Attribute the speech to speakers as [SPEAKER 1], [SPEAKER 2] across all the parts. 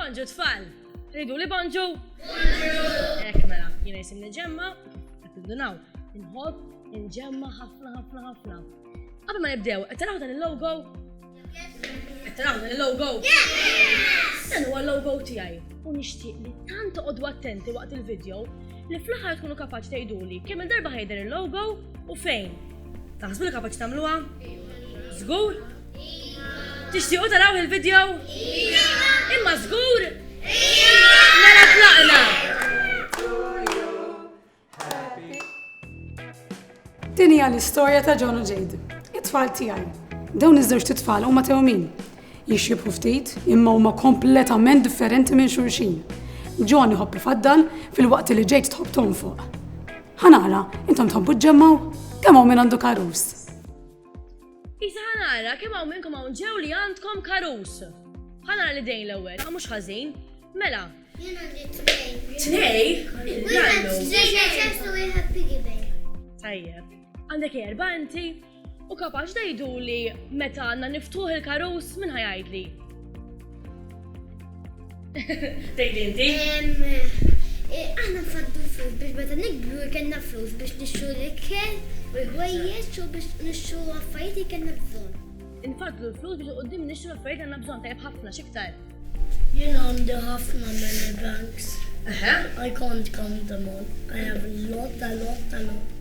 [SPEAKER 1] Bonġu tfal! Ridu li bonġu? Ek mela, jina jisim nġemma, għattindunaw, nħob, nġemma ħafna ħafna ħafna. Għabba ma nibdew, għattaraw dan il-logo? Għattaraw dan il-logo? Dan huwa l-logo tijaj, u nishtiq li tant għoddu attenti waqt il-video li fl-ħar tkunu kapaċi tajduli kemm il-darba ħajder il-logo u fejn. Taħsbu li kapaċi tagħmluha? Żgur? Tixtiequ taraw il-video? Imma żgur? Mela tlaqna! Din hija l-istorja ta' John u Jade, it-tfal tiegħi. Dawn iż-żewġt itfal huma tewmin. Jixxibħu ftit, imma huma kompletament differenti minn xulxin. John iħobb ifaddal filwaqt li Jade tħobb tonfoq. Ħanara, intom tħobbu ġġemmaw? Kemm hawn min għandu karus? Isa ħanara, kemm hawn minnkom hawn ġew li għandkom karus? Ħanara li dejn l-ewwel, ma mhux ħażin. Mela. Jien għandi tnej. Tnej? Wieħed żejjed u wieħed piggy bank. Tajjeb. Għandek erba' inti? U kapax dajduli meta għanna niftuħ il-karus minn ħajajdli. Tejdi inti? Għanna faddu flus biex meta nikbru jkenna flus biex nixxu l-ikel u l-ħwejjeġ u biex nixxu affarijiet jkenna bżon. Nfaddu l-flus biex qoddim nixxu l-affarijiet għanna bżon tajb ħafna xiktar. Jien għandi ħafna many banks. I can't count them all. I have a lot, a lot, a lot.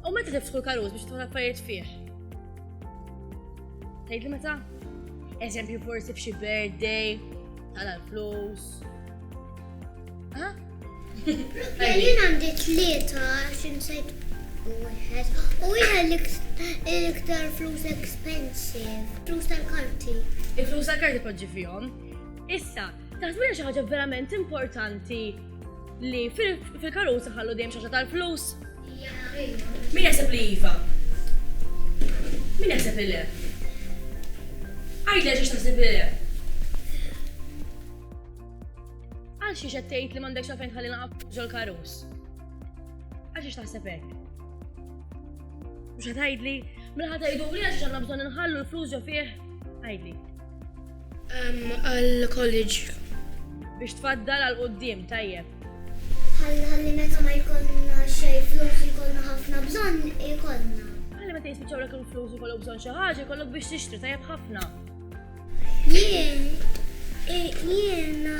[SPEAKER 1] U meta tiftħu l-karuz biex tħu l-affarijiet fih? Tgħidli meta? Eżempju forsi f'xi birthday, tala l-flus. Ha? Jien għandi tlieta xin sejt wieħed. U wieħed l-iktar flus expensive, flus tal-karti. Il-flus tal-karti poġġi fihom. Issa, taħsbina xi ħaġa verament importanti Li fil-karuza ħallu dejjem xaxa tal-flus? Min jaħseb li iva? Min jaħseb li le? Għajdel xiex taħseb li le? Għal xiex qed tgħid li m'għandekx għalfejn tħalli naqab ġol karus? Għal xiex taħseb hekk? Mhux ħatajdli, minn ħatajduli għax għandna bżonn inħallu l-flus ġo fih? Għajdli. għall-college. Biex tfaddal għal quddiem tajjeb. Ħalli meta ma jkollna xejn flus jkollna ħafna bżonn ikollna. Ħalli meta jispiċċawlek il-flus ikollok bżonn xi ħaġa jkollok biex tixtri tajjeb ħafna. Jien jiena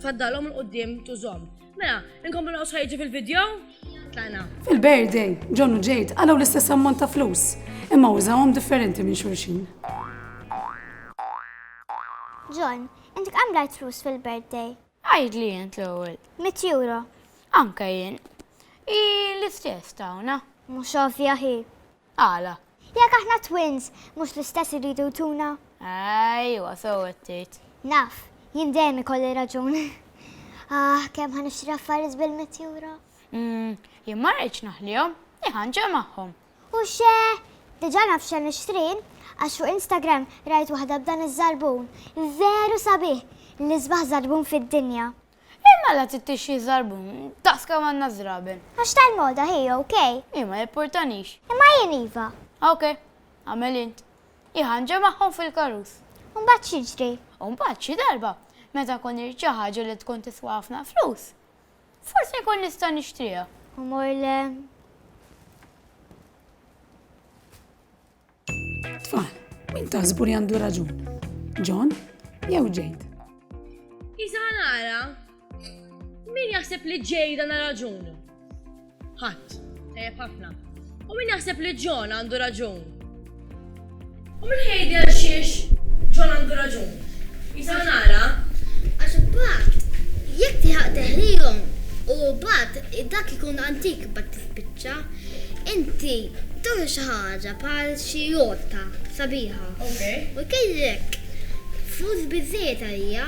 [SPEAKER 1] Tfaddalhom il qudiem tużhom. Mela, inkomplu naqgħu sħajġi fil-video? Tlaqna. Fil-birthday, John u Jade għalaw l-istess ammont ta' flus, imma użawhom differenti minn xulxin. John, inti kemm rajt flus fil-birthday? Għajd li jent l-ewwel. Mit euro. Anka jien. I l-istess tawna. Mhux ovvja hi. Għala? Jekk aħna twins, mhux l-istess iridu jtuna? Ajwa, sew qed tgħid. Naf, jien dejjem ikolli raġun. Aħ, kemm ħa nixtri affarijiet bil-mitt ewro. Jien ma rridx naħlihom, jien ħa nġegħel magħhom. U xe, diġà naf x'ħa nixtri, għax fuq Instagram rajt waħda b'dan iż-żarbun. Veru sabiħ, l-isbaħ żarbun fid-dinja. Ejja mela tittix xi żarbun, daqs kemm għandna żraben. Għax tal-moda hi, OK? Hi ma jippurtanix. Imma jien iva. OK, agħmel int. Hi ħanġa magħhom fil-karus. U mbagħad x'jiġri? U mbagħad xi darba, meta nkun irrid xi ħaġa li tkun tiswa ħafna flus, forsi nkun nista' nixtriha. U mmur l. Tfal, min taħsbu li għandu raġun? John jew Jade? Isa nara, min jaħseb li Jade għandha raġun? Ħadd, tajjeb ħafna. U min jaħseb li John għandu raġun? U min jgħid għal xiex John għandu raġun? Isa nara, Għax imbagħad jekk tiħaq teħlihom u mbagħad dak ikun antik bat tispiċċa Inti turi xi ħaġa bħal xi rotta sabiħa u jkellek flus biżżejjed għaliha.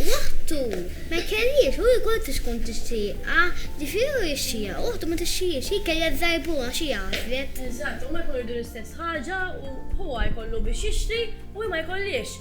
[SPEAKER 1] Waħdu ma jkelliex u hi kont tkun tixtieqha, ġifieri hu jixtieqha, waħdu ma tixtieqhiex, hi kellha żżarbhulha għax hi għażlet. Eżatt, huma jkunu jridu l-istess ħaġa u huwa jkollu biex jixtri u hi ma jkollhiex.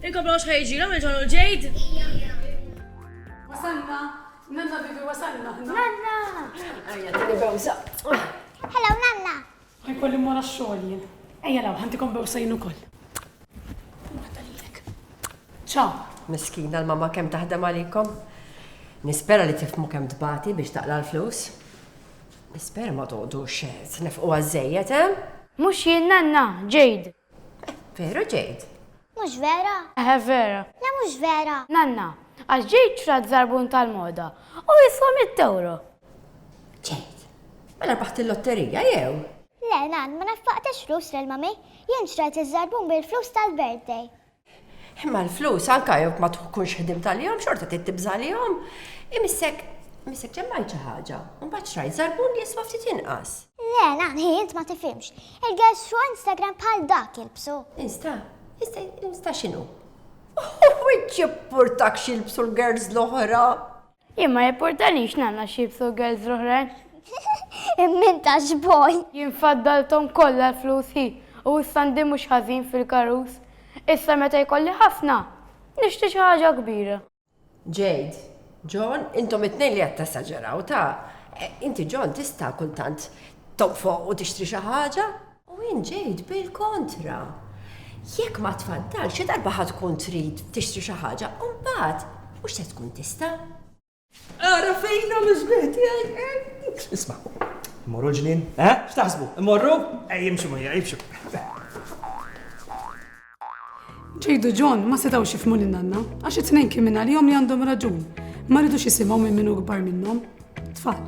[SPEAKER 1] Il-koppla mhux ħa jiġilhom il-ġon u l-ġejd. Wasalna! Nanna bibi wasalna aħna. Nanna! Ejja, tini bewsa. Hello, nanna! Ħajkolli mmur għax-xogħol jien. Ejja law, ħantikom bewsa jien ukoll. Waħda lilek. Ċaw. Miskina l-mama kemm taħdem għalikom. Nispera li tifmu kemm tbati biex taqla l-flus. Nispera ma toqdu xed, nefqu għażejjed, eh? Mhux jien nanna, ġejd. Veru ġejt. Mhux vera? Eħe vera. Le mhux vera. Nanna, għax ġejt xtrat żarbun tal-moda u jiswa mitt ewro. Ġejt. Mela rbaħt il-lotterija jew? Le, Nann, ma nafaqtex flus lil Mummy. Jien xtrajt iż-żarbun bil-flus tal-birthday. Imma l-flus anke jekk ma tkunx ħdimt għalihom xorta trid tibża' għalihom. Imissek missek ġemmajt xi ħaġa, u mbagħad xtrajt żarbun li jiswa ftit inqas. Le, Nanni, int ma tifhimx. Il-girls bxu Instagram bħal dak jilbsu. Insta? Insta, insta x'inhu? U int jippurtakx jilbsu l-girls l-oħra? Jien ma jipportanix nagħna xi jibsu girls l-oħrajn. Min ta x'boj. Jien faddalthom kollha l-flus hi, u issa għandi mhux ħażin fil-karus. Issa meta jkolli ħafna, nixtri xi ħaġa kbira. Jade, John, intom it-tnejn li qed tesaġeraw, ta. Inti John tista' kultant toqfoq u tixtri xi ħaġa. U int ġejt bil-kontra. Jekk ma tfaddalx, xi darba ħa tkun trid tixtri xi ħaġa u mbagħad mhux se tkun tista'. Ara fejn hawn l-isbieħ tiegħi. Isma', immorru l-ġnien? Eh? X'taħsbu? Immorru? Ej, imxu ma jgħidx. Ġejdu John ma setgħux jifhmu lil nanna għax it-tnejn kien minn għalihom li għandhom raġun. Ma rridux jisimgħu minn minnu kbar minnhom. Tfal,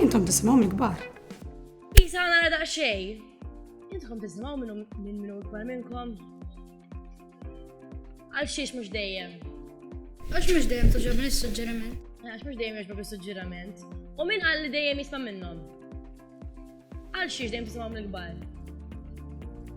[SPEAKER 1] intom tisimgħu mill-kbar. Isa nara daqxej. Intkom tisimaw minnu minn minnu ikbar minnkom. Għal xiex mux dejjem. Għax mux dejjem tuġobni s-sugġeriment. Għax mux dejjem jogħġbok is-suġġerament. U minn għal li dejjem jisma' minnhom. Għal xiex dejjem tisimaw mill-kbar.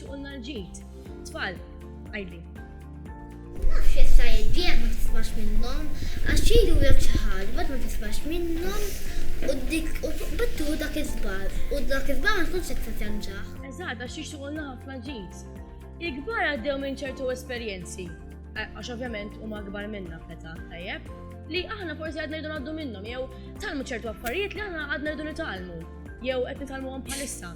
[SPEAKER 1] Suqulna l-ġid. Tfal, għidli. Naf jekk tgħid bih ma tismax minnhom, għax jgħidulek xi ħaġa mbagħad ma tismax minnhom u dik u tqbad tieħu dak iż-żball u dak iż-żball ma tkunx qed tittenġaħ. Eżatt, għax jixtiequlna ħafna ġid. Il-kbar għaddew minn ċertu esperjenzi, għax ovvjament huma kbar minna feta, tajjeb, li aħna forsi għadna rridu għaddu minnhom, jew talmu ċertu affarijiet li aħna għadna rridu nitalmu, jew qed nitalmuhom bħalissa.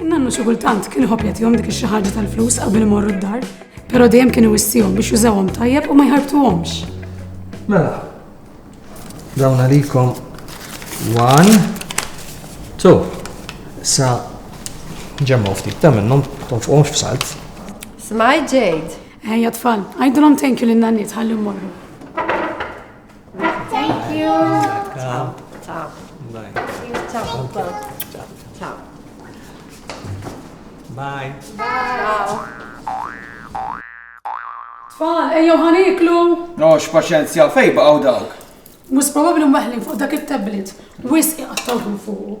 [SPEAKER 1] Nannu xi kultant kien iħobb jagħtihom dik xi ħaġa tal-flus qabel imorru d-dar, però dejjem kien iwissihom biex jużawhom tajjeb u ma jħarbtuhomx. Mela, dawn għalikom one, two, sa ġemmu ftit ta' minnhom tonfqhomx f'salt. Smaj ġejd. Ejja tfal, għajdulhom thank you lin nanniet ħalli mmorru. Thank you. Tam. Tam. Bye. Tam. Tam. Tam. Bye. Bye. Tfal, ejjew ħaniklu. No, x'paċenzja fej baqgħu dawk. Mus probabbli mweħlin fuq dak it-tablet. Wis iqattawhom fuq.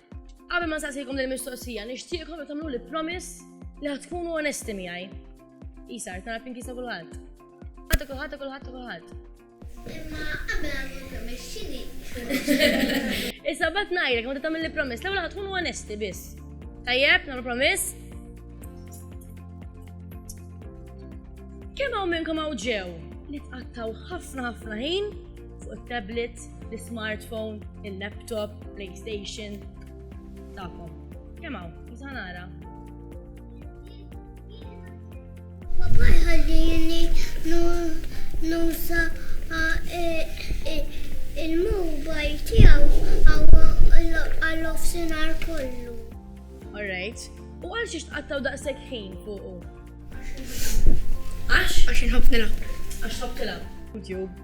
[SPEAKER 1] Qabel ma nsaqsikom lil mistoqsija, nixtieqkom li tagħmlu li promise li ħad tkunu onesti miegħi. Isar, tara pinki sa kulħadd. Ħadd kulħadd kulħadd kulħadd. Imma qabel għamlu promise x'inhi? Issa bat ngħidlek ma tagħmel li promise, l-ewwel ħad tkunu onesti biss. Tajjeb, nagħmlu promise. Kemm hawn minnkom hawn ġew li tqattaw ħafna ħafna ħin fuq it-tablet, l-smartphone, il-laptop, PlayStation tagħkom. Kemm hawn, meta nara. Papa jħallini nusa e, e, il-mobile tiegħu għal-offsinar kollu. All right. U għal xiex tqattaw daqshekk ħin fuqu? Għax? Għax inħobb nilgħab. Għax tħobb tilgħab. YouTube.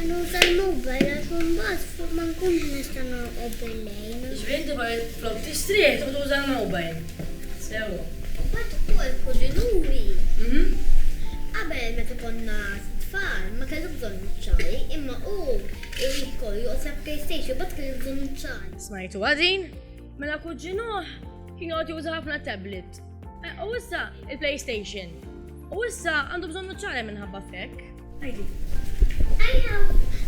[SPEAKER 1] Nuża l-mobile għax imbagħad ma nkunx nista' norqod bil-lejl. Ġifieri inti flok tistrieħ tieħu tuża l-mobile. Sewwa. Imbagħad ukoll f'Kuġinuri. Qabel meta konna tfal ma kellux bżonn nuċċali imma hu jrid ikollu joqgħod jilgħab PlayStation imbagħad kellu bżonn nuċċali. Smajtuha din? Mela kuġinuh kien joqgħod juża ħafna tablet. U issa il-PlayStation. U issa għandu bżonn nuċċali minħabba f'hekk. I know,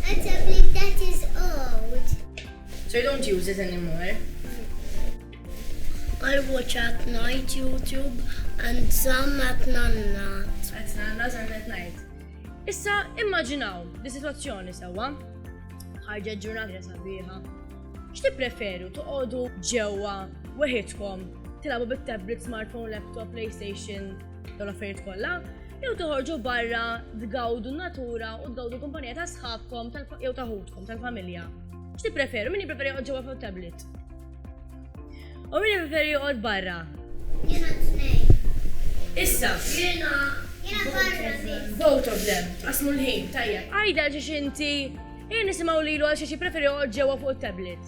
[SPEAKER 1] a tablet that is old. So you don't use it anymore? I watch at night YouTube and some at nanna's. At nanna's and at night. Issa immaġinaw di situazzjoni sewwa. Ħarġet ġurnata sabiħa. X'tippreferu toqogħdu ġewwa weħidkom tilgħabu bit-tablet, smartphone, laptop, PlayStation, dawn l-affarijiet kollha, jew toħorġu barra tgawdu natura u tgawdu kumpanija ta' sħabkom jew ta' ħutkom tal-familja. X'ti preferu? Min preferi joqgħod ġewwa fuq tablet? U min preferi joqgħod barra? Jiena tnejn. Issa, jiena jiena barra biss. Both of them, qasmu l-ħin, tajjeb. Għajda xi xinti, jien nisimgħu lilu għal xi xi preferi joqgħod ġewwa fuq tablet.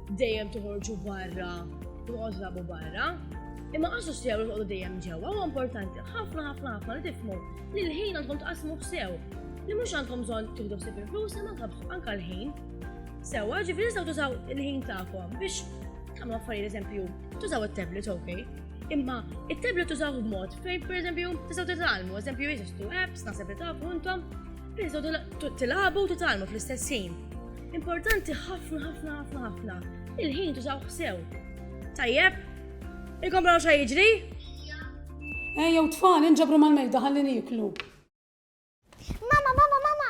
[SPEAKER 1] Dejjem toħorġu barra, toħorġu barra. Imma għasu sew li toqgħodu dejjem ġewwa huwa importanti ħafna ħafna ħafna li tifmu li l-ħin għandkom tqasmu sew. Li mhux għandkom bżonn tibdu sib il-flus imma anke l-ħin. Sewwa ġifieri nistgħu tużaw il-ħin tagħkom biex tagħmlu affarijiet eżempju tużaw it-tablet ok. Imma it-tablet tużaw b'mod fejn pereżempju tistgħu titalmu, eżempju jeżistu apps naħseb li tafu intom, tistgħu tilagħbu u titalmu fl-istess ħin. Importanti ħafna ħafna ħafna ħafna. Il-ħin tużaw sew. Tajjeb? Ilkom raw xa jiġri? Ejjew tfal, inġabru mal-mejda ħalli niklu. Mama, mama, mama,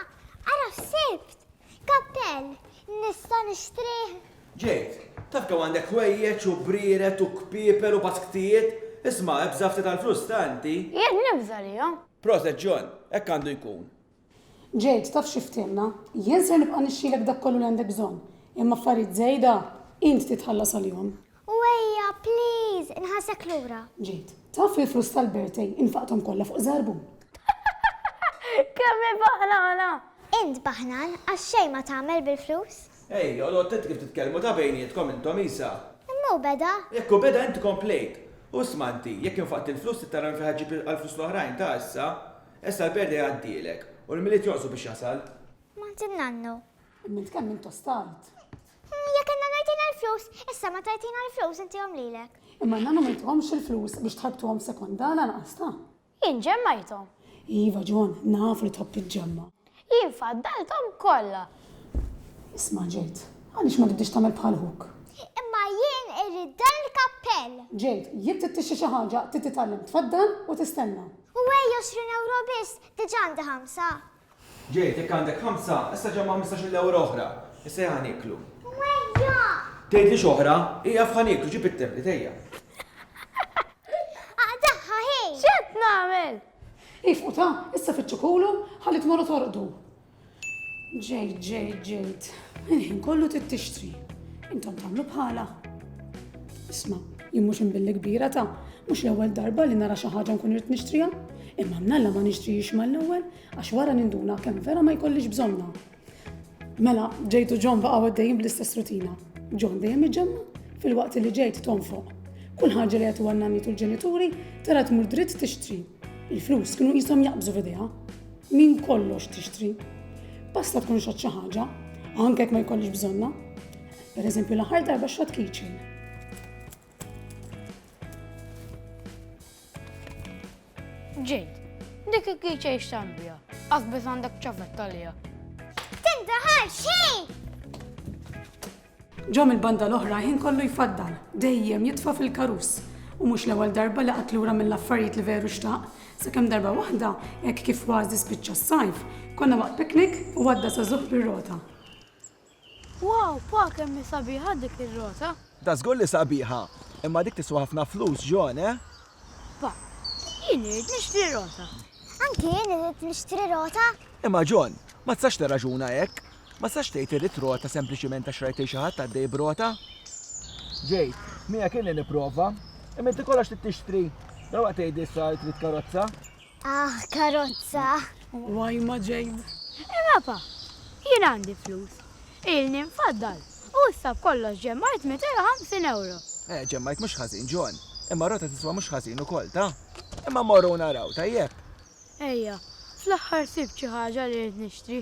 [SPEAKER 1] ara sibt, kappell, nista nishtrih. Ġejt, taf kemm għandek ħwejjeġ u briret u kpieper u basktijiet, isma' ebża ftit tal-flus tanti. Jien nibża li Proset John, hekk għandu jkun. Jade, taf xi fthimna? Jien ser nibqa' nixxilek dak kollu li għandek bżonn, imma affarijiet żejda int titħallas għalihom. U ejja, please, inħallsek lura. Jade, taf li l-flus tal-birthday infaqthom kollha fuq żarbun. Kemm hi baħnana! Int baħnan għax xejn ma tagħmel bil-flus. Ej, għodod tett kif titkellmu ta' bejnietkom intom Isa. Imma hu beda. Jekk hu beda int komplejt. U isma' inti, jekk infaqt il-flus trid tara minn fejn ħa ġġib il-flus l-oħrajn ta' issa. Issa l-perda jgħaddielek. U l-Milied jonqsu biex jasal. Martin Nannu. Immilt kemm inta stajt. Jekk inna ngħajtina l-flus, issa ma tajtina l-flus intihom lilek. Imma inna ma ngħajthomx il-flus biex tħarbtuhom sekonda lanqas ta. Jien ġemmajthom. Iva John, naf li tħobb tiġġemma'. Jien faddalthom kollha. Isma', Jade, għaliex ma tibdiex tagħmel bħal ħuk? Imma jien irrid dan il-kappell! Jade, jekk trid tixtri xi ħaġa, trid titgħallem tfaddal u tistenna. U ejja 20 ewro biss, diġà għandi ħamsa. Jade, jekk għandek ħamsa, issa ġemma' ħmistax-il ewro oħra. Issa ejja ħa nieklu. U ejja! Tgħidlix oħra, ieqaf ħa nieklu, ġib it-tablet, ejja. Aqtagħha hi! X'qed nagħmel? Ifqu ta, issa fitxu kulu ħalli tmorru torqdu. Ġejt, ġejt, ġejt. Il-ħin kollu trid tixtri. Intom tagħmlu bħala. Isma, jien mhux imbilli kbira ta' mhux l-ewwel darba li nara xi ħaġa nkun irid nixtriha. Imma mnalla ma nixtrihiex mal-ewwel għax wara ninduna kemm vera ma jkollix bżonna. Mela, Ġejt u John baqgħu għaddejjin bl-istess rutina. John dejjem iġemma fil-waqt li Ġejt tonfoq. Kull ħaġa li għetu għannanni tul ġenituri tara tmur dritt tixtri. Il-flus kienu jisom jaqbżu f'idejha. Min kollox tixtri. Basta tkun xatt xi ħaġa, anke ma jkollix bżonna. Per eżempju, l-aħħar darba xatt keychain. Ġejt, dik il-kiċa jixtan bija, għazbet għandek ċafet talija. Tinta ħal xejn! Ġom il-banda l-oħra ħin kollu jfaddal, dejjem jitfa fil-karus. U mhux l-ewwel darba li qatt lura mill-affarijiet li veru xtaq, sakemm darba waħda hekk kif kważi spiċċa s-sajf, konna waqt piknik u għadda sa żuħ bir-rota. Wow, pa kemm hi sabiħa dik ir-rota! Da żgur li sabiħa! Imma dik tiswa ħafna flus, John, eh? Pa, jien irrid nixtri rota! Anki jien irrid nixtri rota! Imma John, ma tistax tirraġuna hekk! Ma tistax tgħid irrid rota sempliċiment għax rajt lil xi ħadd għaddej b'rota! Ġejt, miegħek inni nipprova. Imma inti kollox trid tixtri! Dalwaqt tgħidli issa li trid karozza! Ah, karozza! Why ma ġejn? Imapa, jien għandi flus. Ilni nfaddal u issa b'kollox ġemmajt 250 ewro. Eh, ġemmajt mhux ħażin, John. Imma rota tiswa mhux ħażin ukoll, ta? Imma mmorru u naraw, tajjeb? Ejja, fl-aħħar sibt xi ħaġa li ridt nixtri.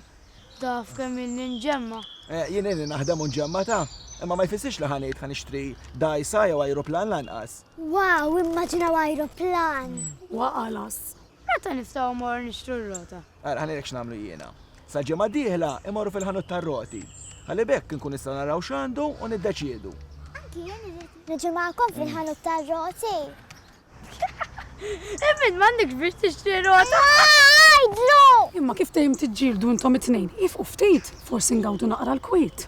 [SPEAKER 1] Taf kemm ilni nġemma'. Eh, jien ilni naħdem u nġemma', ta? Imma ma jfissirx li ħa ngħid ħa nixtri dgħajsa jew ajruplan lanqas. Wow, immaġinaw ajruplan! Waqa' l-għażż. Meta niftgħu mmorru nixtru r-rota? Ara ħalli ngħidlek x'nagħmlu jiena. Sal-ġimgħa d-dieħla immorru fil-ħanut tar-roti. Ħalli b'hekk inkunu nistgħu naraw x'għandu u niddeċiedu. Anki jien irrid niġi magħkom fil-ħanut tar-roti. Imma int m'għandekx biex tixtri rota! Għidlu! Imma kif dejjem tiġġieldu intom it-tnejn? Iefqu ftit, forsi ngawdu naqra l-kwiet.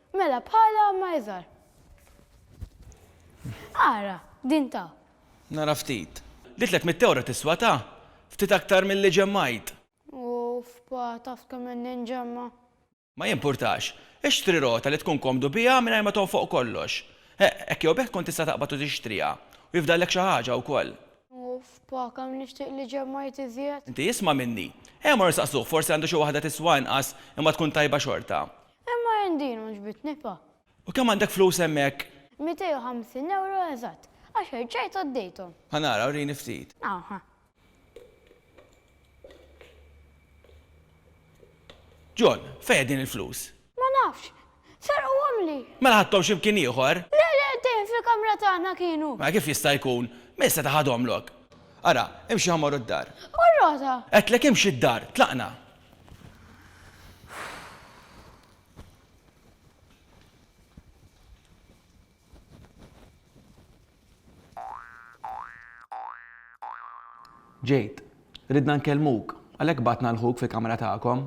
[SPEAKER 1] Mela bħala ma iżgħar. Ara, din ta. Nara ftit. Li tliet mitt ewro tiswa ta. Ftit aktar milli ġemmajt. Uff, pa, taf kemm għandi nġemma'. Ma jimpurtax. Ixtri rota li tkun komdu biha mingħajr ma tonfoq kollox. Heq, hekk jew b'hekk tkun tista' taqbad u tixtriha. U jifdallek xi ħaġa wkoll. Uff, pa, kemm nixtieq li ġemmajt iżjed. Inti isma' minni. Ejja mmorru nsaqsuh, forsi għandu xi waħda tiswa inqas imma tkun tajba xorta. Imma jien din għoġbitni pa. U kemm għandek flus hemmhekk? Mitej u ħamsin ewro eżatt, għax erġajt għaddejthom. Ħa nara, wrini ftit. Hawn ħa. John, fejn qegħdin il-flus? Ma nafx. Serquhomli. Mela ħadthom xi mkien ieħor? Le, le, qegħdin fil-kamra tagħna kienu. Mela kif jista' jkun? Min seta' ħadhomlok? Ara, imxi ħa mmorru d-dar. U r-rota? Għedtlek imxi d-dar, tlaqna. Jade, Ridna nkellmuk, għalhekk bagħatna 'l ħuk fil-kamra tagħkom.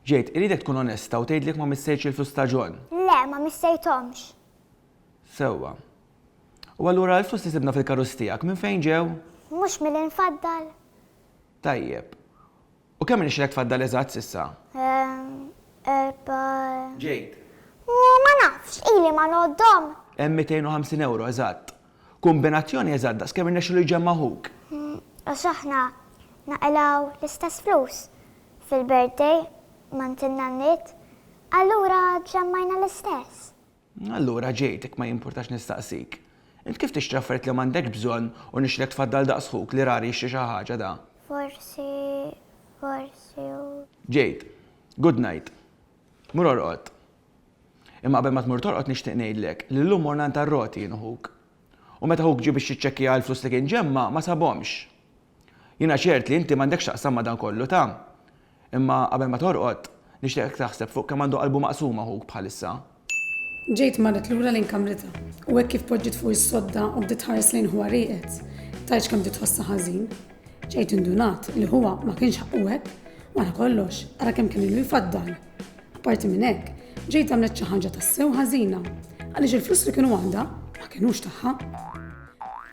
[SPEAKER 1] Jade, Irridek tkun onesta u tgħidli jekk ma missejtx il-flus ta' John. Le, ma missejthomx. Sewwa. U allura l-flus li sibna fil-karozz tiegħek minn fejn ġew? Mhux milli nfaddal. Tajjeb. U kemm irnexxielek tfaddal eżatt s'issa? Ehm, erba'. Jade. Ooh, ma nafx, ili ma ngħoddhom. Hemm 250 ewro eżatt. Kumbinazzjoni eżatt daqs kemm irnexxielu jġemma' ħuk. Għax aħna naqilgħu l-istess flus fil-birthday mant in-nanniet, allura ġemmajna l-istess. Allura ġejt, jekk ma jimpurtax nistaqsik. Int kif tixtri affarijiet li m'għandekx bżonn u nixtrilek tfaddal daqs ħuk li rari jixtri xi ħaġa da? Forsi, forsi u. Ġejt, Good night. Mur orqod. Imma qabel ma tmur torqod nixtieq ngħidlek li llum morna għand ar-roti jien u ħuk. U meta ħuk ġie biex jiċċekkija l-flus li kien ġemma' ma sabhomx. Jiena ċert li inti m'għandek x'taqsam ma' dan kollu, ta? Imma qabel ma torqod, nixtieqek taħseb fuq kemm għandu qalbu maqsuma ħuk bħalissa. Ġejt marret lura lejn kamritha, u hekk kif poġġiet fuq is-sodda u bdiet tħares lejn ħuha rieqed, tgħidx kemm bdiet tħossha ħażin. Ġejt indunat li ħuha ma kienx ħaqqu hekk, wara kollox, ara kemm kien ilu jfaddal. Apparti minn hekk, ġejt għamlet xi ħaġa tassew ħażina, għaliex il-flus li kienu għandha ma kinux tagħha.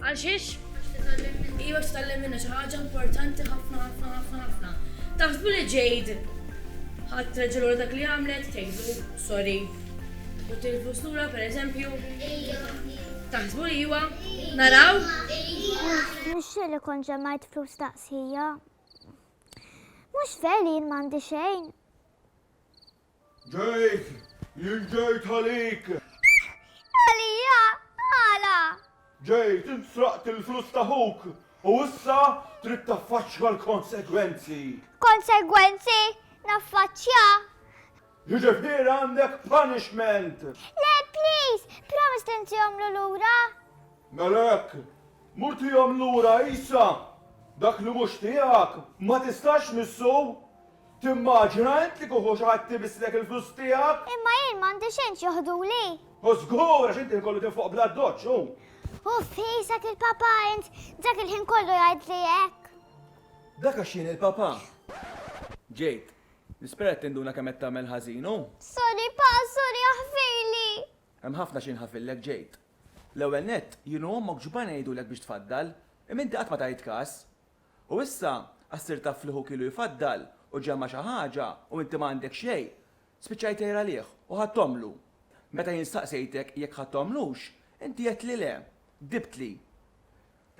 [SPEAKER 1] Għal xiex? Iva x'tgħallem minna xi ħaġa importanti ħafna ħafna ħafna ħafna. Taħsbu li ġejd ħadd reġa' lura dak li għamlet, tgħidlu sorry. U tilfu slura pereżempju. Taħsbu li iva? Naraw? Nixxi li kon ġemajt flus taqsija. Mhux veri jien m'għandi xejn. Ġejt! Jien ġejt għalik! Għalija? Għala? Ġejt, int sraqt il-flus ta' ħuk u issa trid taffaċċja l-konsegwenzi! Konsegwenzi? Naffaċċja? Jiġifieri għandek punishment! Le, please! Promise li ntihomlu lura! Mela hekk, mur tihom lura issa! Dak li mhux tiegħek ma tistax tmissu! Timmaġina int li kieku xi ħadd ibisslek il-flus tiegħek? Imma jien m'għandi xejn x'joħduli. Hu żgur għax inti kollu kien fuq bla doċċ, hu. Uff, qisek il-papà int, dak il-ħin kollu jgħidli hekk. Dak għax jien il-papà. Ġejt. Nispera qed tinduna kemm qed tagħmel ħażin, hu. Sorry pa, sorry aħfirli. Hemm ħafna xi nħafillek, Ġejt. L-ewwel nett, jien u ommok x'ba ngħidulek biex tfaddal, imma inti qatt ma tajt każ. U issa, għax sirt taf li ħuk ilu jfaddal u ġema' xi ħaġa u inti ma għandek xejn, spiċċajt tgħir għalih u ħadthomlu. Meta jien staqsejtek jekk ħadthomlux, inti għedt li le, gdibtli.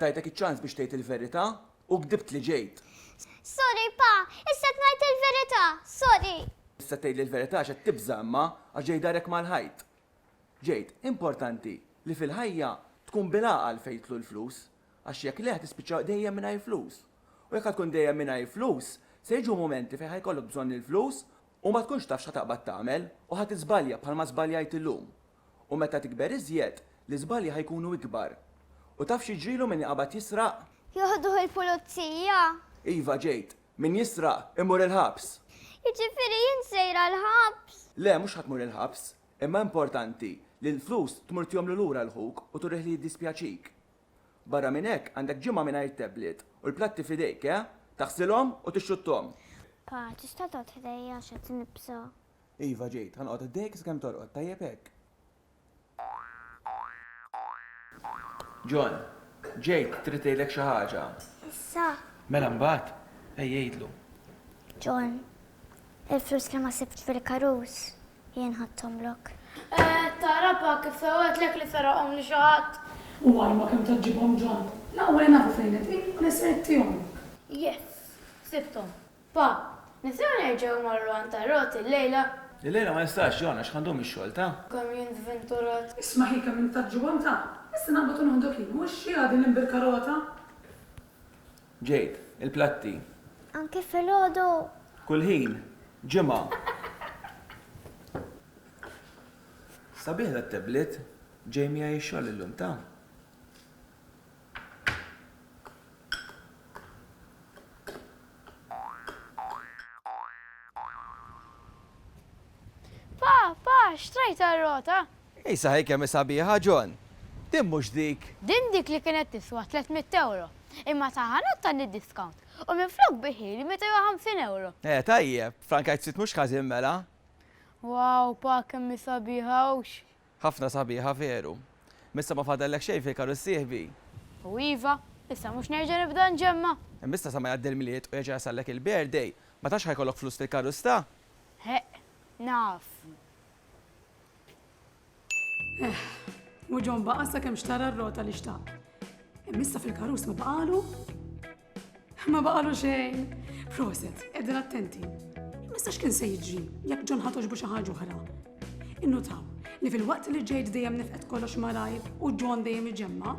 [SPEAKER 1] Tajtek iċ-ċans biex tgħid il-verità u gdibtli ġejt. Sorry, Pa, issa qed ngħid il-verità, sorry. Issa tgħidli l-verità għax qed tibża' imma għax ġej darek mal-ħajt. Ġejt, importanti li fil-ħajja tkun bil-għaqal fejn jidħlu l-flus. Għax jekk le, tispiċċa dejjem mingħajr flus. U jekk ħa tkun dejjem mingħajr flus, se jiġu mumenti fejn ħa jkollok bżonn il-flus u ma tkunx taf x'ħa taqbad tagħmel u ħa tiżbalja bħalma żbaljajt illum. U meta tikber iżjed, l-iżbalji ħa jkunu ikbar. U taf x'jiġrilu min iqabad jisraq? Joħduh il-pulizija. Iva, Jade. Min jisraq, imur il-ħabs. Jiġifieri jien sejra l-ħabs? Le, mhux ħa tmur il-ħabs. Imma importanti li l-flus tmur tihomlu lura 'l ħuk u turih li jiddispjaċik. Barra minn hekk, għandek ġimgħa mingħajr tablet u l-platti f'idejk, eh? Taħsilhom u tixxutthom. Pa, tista' toqgħod ħdejja għax qed nibża'. Iva, ġejt. Ħa noqgħod ħdejk sakemm torqod, tajjeb hekk? John, ġejt, trid ngħidlek xi ħaġa. Issa? Mela mbagħad, ejja għidlu. John, il-flus li ma sibtx fil-karus. Jien ħadthomlok. Qed tara pa kif fewwetlek li seraqhom lil xi ħadd? U ajma kemm ta' ġibhom ġon. L-aqwa li nafu fejn qegħdin u li ser ittihomlok. Yes! Sibthom. Pa, nistgħu nerġgħu mmorru għand Tarot illejla? Illejla ma nistax, Jon, għax ħandum ix-xogħol, ta? Kemm jien żventurat. Isma' hi kemm int ta' ġibhom, ta? Issa naqbad u noħdok jien, mhux hi din l-imbirkarota? Ġejb il-platti. Anke filgħodu? Kull ħin, ġimgħa. Sabiħ dat-tablet. Ġej miegħi x-xogħol illum, ta? Pa, pa, xtrajt għar-rota? Isa hi kemm hi sabiħa, John! Din mhux dik! Din dik li kienet tiswa tliet mitt ewro, imma ta' ħanut tani diskawnt u minflok biħili meta jwa ħamsin ewro! Eh, tajjeb! Frankajt ftit mhux ħażin mela! Wow, pa kemm hi sabiħa, hux? Ħafna sabiħa, veru! M'issa ma fadallek xejn fil-karru ssieħbi? U iva, issa mhux nerġa' nibda nġemma'? Imma issa sa ma jgħaddi l-Milied u jerġa' jasallek il-birthday, ma tafx ħa jkollok flus fil-karru sta? Heq, naf. Eh, u ġon baqa sa kem xtara r-rota li xtaq. Missa fil-karus ma baqalu? Ma baqalu xejn. Proset, edin attenti. Missa x'kien se jiġri jekk ġon ħatoġ bu xi ħaġa oħra. Innutaw li fil-waqt li ġejt dejjem nifqet kollox marajb u ġon dejjem iġemma,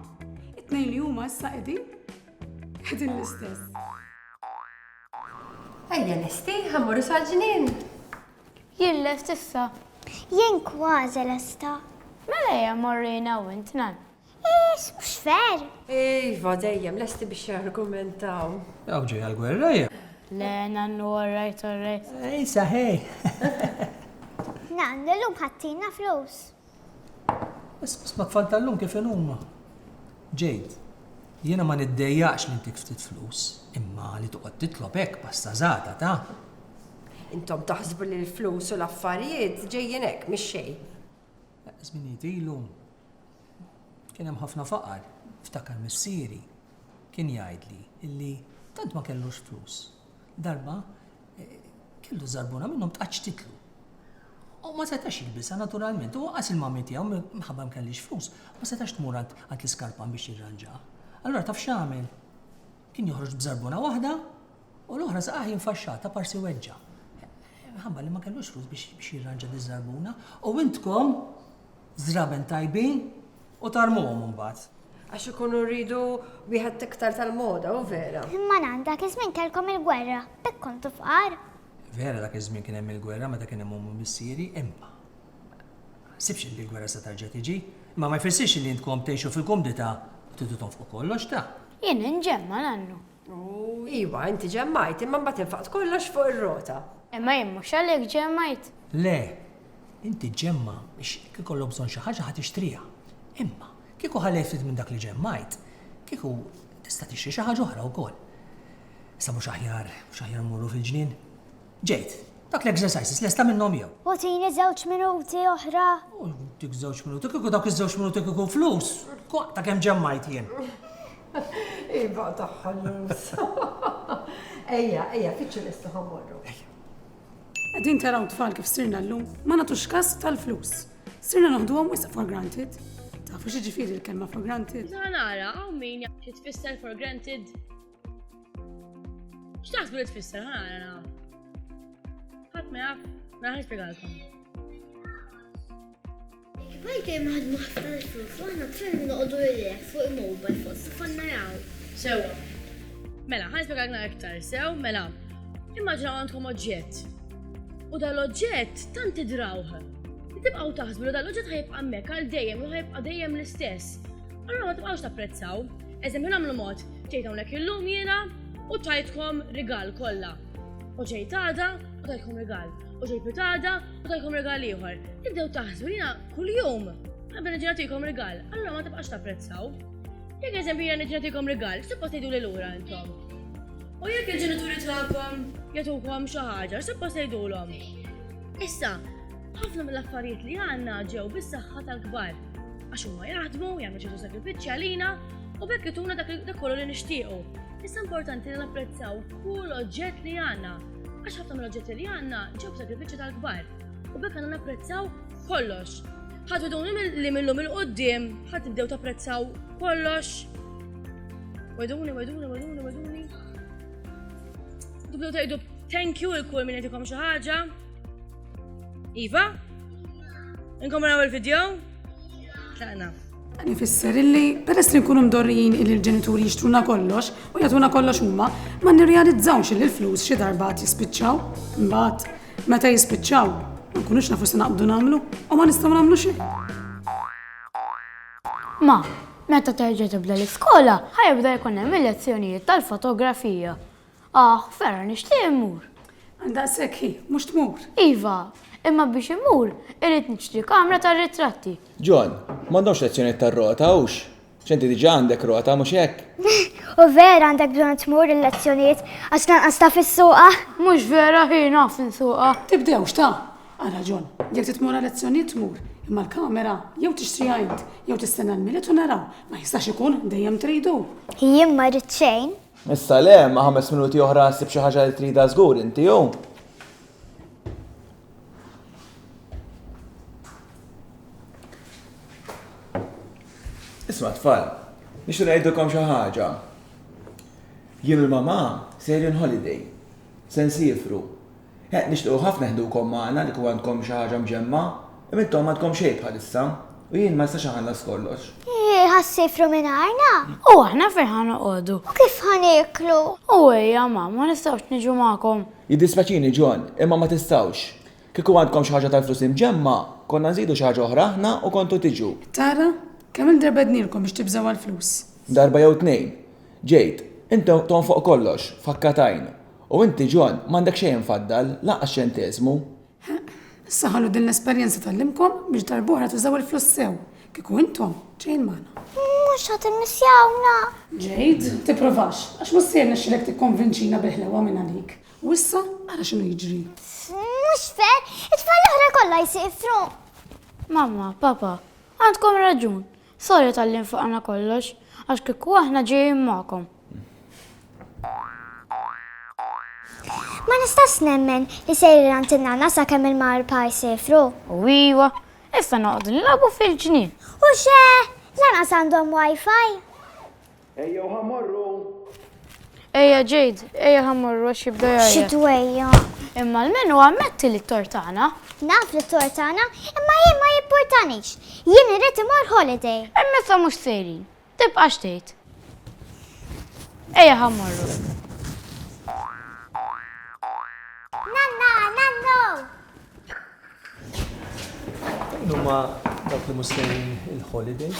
[SPEAKER 1] it-tnejn li huma issa qegħdin qegħdin l-istess. Ejja lesti, ħammur sal-ġnien. Jien lest issa. Jien kważi lesta. Mela ejja mmorru jiena u int, Nan. Iss, mhux ver! Iva, dejjem lesti biex jargumentaw. Hawn ġejja l-gwerra, hi? Le, Nannu, all right, all right. Issa, hi! Nannu, illum ħadtilna flus. Isma' tfal tal-lum kif inhuma. Jade, Jiena ma niddejjaqx li ntik ftit flus, imma li toqgħod titlob hekk pasta żgħata ta'. Intom taħsbu li l-flus u l-affarijiet ġejjin hekk mix-xejn. Żminijiet ilu kien hemm ħafna faqar. Nftakar missieri kien jgħidli illi tant ma kellux flus Darba, kellu żarbuna minnhom tqaċċtitlu. U ma setax jilbisha naturalment, u qas il-mami tiegħu minħabba ma kellix flus, ma setax tmur għand l-iskarpan biex jirranġa. Allura taf x'għamel? Kien joħroġ b'żarbuna waħda u l-oħra saqaħ jinfaxxata parsi weġġa. Minħabba li ma kellux flus biex jirranġa diż-żarbuna, u intkom Żraben tajbin u tarmuhom imbagħad. Għax ikunu rridu wieħed iktar tal-moda, hu vera. Imma nan, dak iż-żmien kellkom il-gwerra, b'hekk kontu fqar. Vera dak iż-żmien kien hemm il-gwerra meta kien hemm omm u missieri, imma. Ma naħsibx li l-gwerra se terġa' tiġi. Imma ma jfissirx li intkom tgħixu fil-kumdità u tridu tonfqu kollox, ta? Jien inġemma' nannu. U iva, inti ġemmajt, imma mbagħad infaqt kollox fuq ir-rota. Imma jien mhux għalhekk ġemmajt. Le, inti ġġemma' biex jekk ikollok bżonn xi ħaġa ħa tixtriha. Imma, kieku ħallejt ftit minn dak li ġemmajt, kieku tista' tixtri xi ħaġa oħra wkoll. Issa mhux aħjar, mhux aħjar mmorru fil-ġnien? Ġejt. Dak l-exercises lesta minnhom jew? U tini żewġ minuti oħra? Dik żewġ minuti, kieku dawk iż-żewġ minuti kieku flus, ta' kemm ġemmajt jien. Iva tagħha l-flus. Ejja, ejja, fiċċu lesta ħammorru. Qegħdin taraw tfal kif sirna llum ma nagħtux kas tal-flus. Sirna noħduhom wisq for granted. Tafu xi ġifieri l-kelma for granted? Nara, hawn min jaf xi tfisser for granted. X'taħsbu li tfisser ħana? Ħadd ma jaf, ma ħadd spjegalkom. Bajt hemm ħadd ma ħafna flus, aħna tfel noqogħdu lilek fuq il-mobile fuq sifan naraw. Sewa. Mela, ħan spjegalna iktar, sew, mela. Immaġinaw għandkom oġġett. U dal-oġġett tant idrawh. Tibqgħu taħsbu li dal-oġġett ħajbqa' hemmhekk għal dejjem u ħajbqa' dejjem l-istess. Allura ma tibqgħux tapprezzaw, eżempju nagħmlu mod, ġejt hawnhekk illum jiena u tajtkom rigal kollha. U ġejt għada u tajtkom rigal. U ġejt pitada u tajtkom rigal ieħor. Tibdew taħsbu jiena kuljum qabel ġenatikom rigal, allura ma tibqax tapprezzaw. Jekk eżempju jiena ġenatikom rigal, x'tibqa' tgħidu lil ura intom. U jekk il-ġenituri tagħkom jagħtukom xi ħaġa, x'tibqa' tgħidulhom. Issa, ħafna mill-affarijiet li għandna ġew bis-saħħa tal-kbar. Għax huma jaħdmu, jagħmlu ċertu sagrifiċċji għalina u bekk ituna dak kollu li nixtiequ. Issa importanti li napprezzaw kull oġġett li għandna. Għax ħafna mill-oġġetti li għandna ġew sagrifiċċju tal-kbar. U bekk għandna napprezzaw kollox. Ħadd idun li millum il-qoddim ħadd tibdew tapprezzaw kollox. Weduni, weduni, weduni, weduni. Tibdew tgħidu thank you il-kull minn jagħtikom xi ħaġa. Iva, Inkom raw il-video? Tlaqna. Dan ifisser illi peress li nkunu mdorrijin illi l-ġenituri jixtruna kollox u jagħtuna kollox huma, ma nirrealizzawx illi l-flus xi darba jispiċċaw, imbagħad meta jispiċċaw, ma nkunux nafu se naqbdu nagħmlu u ma nistgħu nagħmlu xejn. Ma, meta terġa' tibda l-iskola, ħajibda jkun hemm il-lezzjonijiet tal-fotografija. Ah, vera nixtieq immur! Għal daqshekk ħin, mhux tmur? Iva, imma biex immur irrid nixtri kamra tar-ritratti. John, m'għandhomx lezzjonijiet tar-rota, hux? Għax inti diġà għandek rota, mhux hekk? U vera għandek bżonn tmur il-lezzjonijiet għax lanqas taf issuqha? Mhux vera hi naf insuqha. Tibdewx, ta! Ara John, jekk trid tmur għal-lezzjonijiet tmur, imma l-kamera jew tixtriha int jew tistenna l-Milied u naraw. Ma jistax ikun dejjem tridu! Jien ma rrid xejn. Issa le, ma' ħames minuti oħra ssib xi ħaġa li tridha żgur inti hu. Isma' tfal, nixtieq ngħidilkom xi ħaġa. Jien u l-mamà sejrin holiday. Se nsifru. Eħ, nixtiequ ħafna neħdukom magħna li kieku għandkom xi ħaġa mġemmgħa, imma intom m'għandkom xejn bħalissa, u jien ma nistax inħallas kollox. Hi, ħa ssifru mingħajrna? U aħna fejn ħa noqogħdu? U kif ħa nieklu? U ejja, ma, ma nistgħux niġu magħkom? Jiddispjaċini, John, imma ma tistgħux. Kieku għandkom xi ħaġa tal-flus imġemmgħa, konna nżidu xi ħaġa oħra aħna u kontu tiġu. Tara, kemm-il darba għednielkom biex tibżgħu għall-flus? Darba jew tnejn. Jade, inti tonfoq kollox, f'ħakka t'għajn, U inti John, m'għandek xejn imfaddal, lanqas ċenteżmu! Heq, issa ħallu din l-esperjenza tgħallimkom biex darb'oħra tużaw il-flus sew, kieku intom ġejjin magħna. Mhux ħa timmissjawna! Jade, tipprovax, għax mhux se jirnexxilek tikkonvinċina bil-ħlewwa minn għalik. U issa ara x'inhu jiġri. Mhux fair, it-tfal l-oħra kollha jsifru! Mamma, Papa, għandkom raġun. Sorry talli nfaqna kollox, għax kieku aħna ġejjin magħkom. Ma nistax nemmen li sejrin għand in-nana sakemm il-mar pa jsifru. U iwa, issa noqogħdu nilagħbu fil-ġnien. U xe, lanqas għandhom wifi. Ejjew ħa mmorru! Ejja Jade, ejja ħa mmorru għax jibda jgħajjat. Xi twejja? Imma l-menu ammetti li t-tort tagħna. Naf li t-tort tagħna, imma jien ma jippurtanix. Jien irrid imur holiday. Imma sa mhux sejrin. Tibqax tgħid. Ejja ħa mmorru. Numa dak li mustajn il-holiday.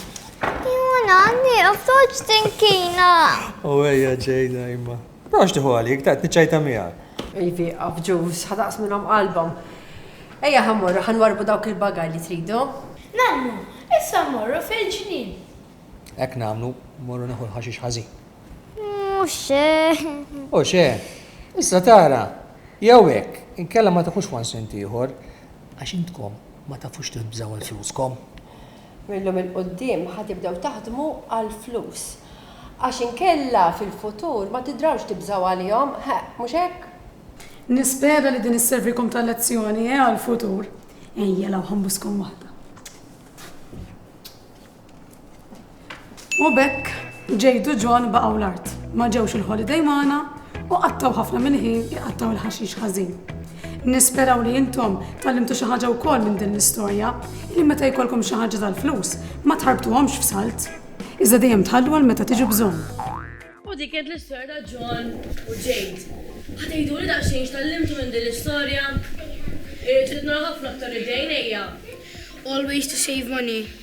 [SPEAKER 1] Juna, nieqaf toċ tinkina. U għeja ġejna imma. Prox tiħu għalik, ta' t-ċajta miegħek. Ivi, għafġus, ħadaqs minnhom qalbhom. Ejja ħammorru, ħanwarbu dawk il-bagaj li tridu. Nannu, issa mmorru fil-ġnien. Hekk nagħmlu, mmorru neħu l-ħaxix ħażin. Mhux xe. U xe. Issa tara, jew hekk, inkella ma tieħux one cent ieħor, għax intkom ma tafux tibżgħu għal fluskom. Mil-lum 'il quddiem ħa tibdew taħdmu għall-flus. Għax inkella fil-futur ma tidrawx tibżgħu għalihom, ħa, mhux hekk? Nispera li din isservikom ta' lezzjoni, eh, għall-futur. Ejja, law ħa nbuskom waħda. U b'hekk Jade u John baqgħu l-art. Ma ġewx il-holiday magħna u qattgħu ħafna mill-ħin iqattgħu l-ħaxix ħażin. Nisperaw li intom tgħallimtu xi ħaġa wkoll minn din l-istorja li meta jkollkom xi ħaġa tal-flus ma tħarbtuhomx f'salt, iżda dejjem tħallu għal meta tiġu bżonn. U dik kienet l-istorja ta' John u Jade. Ħa tgħiduli daqsxejn x'tgħallimtu minn din l-istorja? Irrid irid nara ħafna aktar idejn ejja! Always to save money.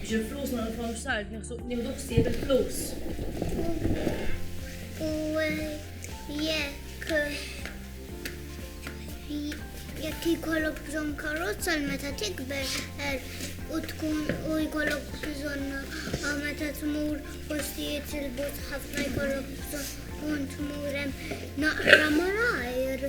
[SPEAKER 1] Biex il-flus ma nitfgħux sard nieħdu ħsieb il-flus. U jekk jekk jkollok bżonn karozza għal meta tikber er, u tkun u jkollok bżonn ah, meta tmur postijiet il-but ħafna jkollok bżonn tmur hemm naqra malajr.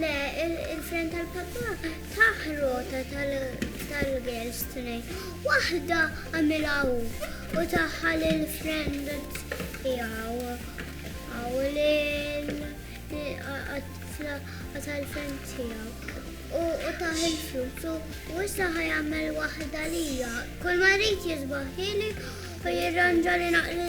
[SPEAKER 1] Le, il-friend tal-papà tah rota tal-girls tnejn. Waħda għamilha hu u taha lill-friend tiegħu u lil għat-tifla tal-friend tiegħu. U tah il-flus u issa ħajamel waħda lija. Kull ma jrid jisbaħ ħieli u jirranġa li naqri